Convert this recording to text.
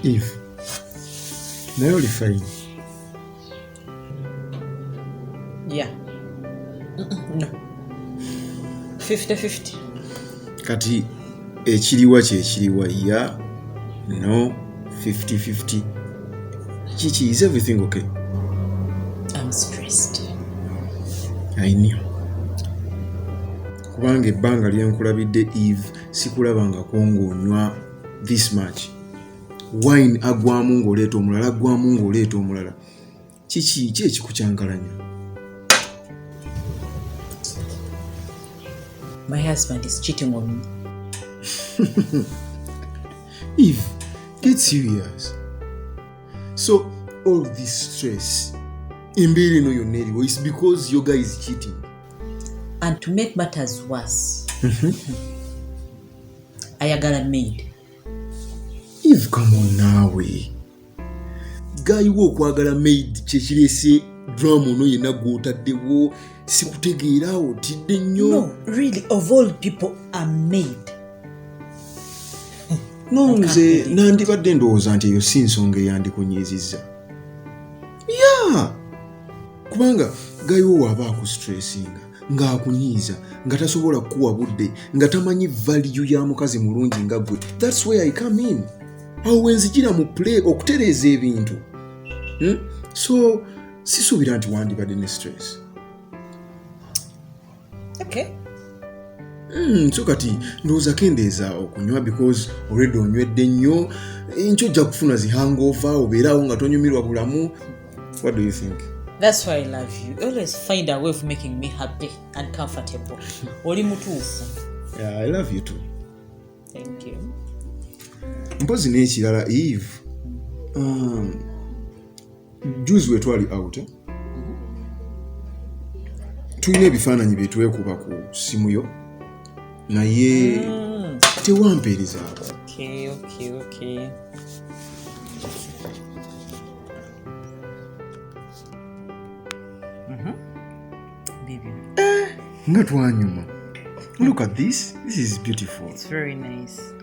Eve, naye oli fine? Yeah. No. 50-50. Kati ekiriwa kyekiriwa ya no 50-50 kiki is everything okay? I'm stressed. I knew. Kubanga ebbanga lyenkulabidde Eve sikulabangako ng'onywa this much wine agwamu ng'oleeta omulala agwamu ng'oleeta omulala kiki ki ekikukyankalanya my husband is cheating on me eve get serious so all this stress embeera eno yonna eriwo is because your guy is cheating and to make matters worse mm -hmm. ayagala maid eve kamo naawe gayiwa okwagala maid kyekirese drama ono yenna gwotaddewo sikutegeera otidde nnyo no, really, of all people are maid no nze nandibadde ndowooza nti eyo si nsonga eyandikunyiizizza ya yeah. kubanga gayiwo waaba aku stressinga ng'akunyiiza nga tasobola kukuwa budde nga tamanyi valiyu ya mukazi mulungi nga gwe thats way i come in awo wenzijira mu play okutereeza ebintu hmm? so sisuubira nti wandibadde ne stress okay. Mm, so kati ndowooza kendeeza okunywa because already onywedde nnyo nkyo ojja kufuna zihangova obeeraawo nga tonyumirwa bulamu what do you think That's why I love you. You always find a way of making me happy and comfortable. Oli mutuufu. Yeah, I love you too. mpozi n'ekirala eve um, juzi wetwali out eh? tulina ebifaananyi byetwekuba ku simu yo naye mm. tewampeerezaako okay, okay, okay. bibyo eh, nga twanyuma look at this this is beautiful it's very nice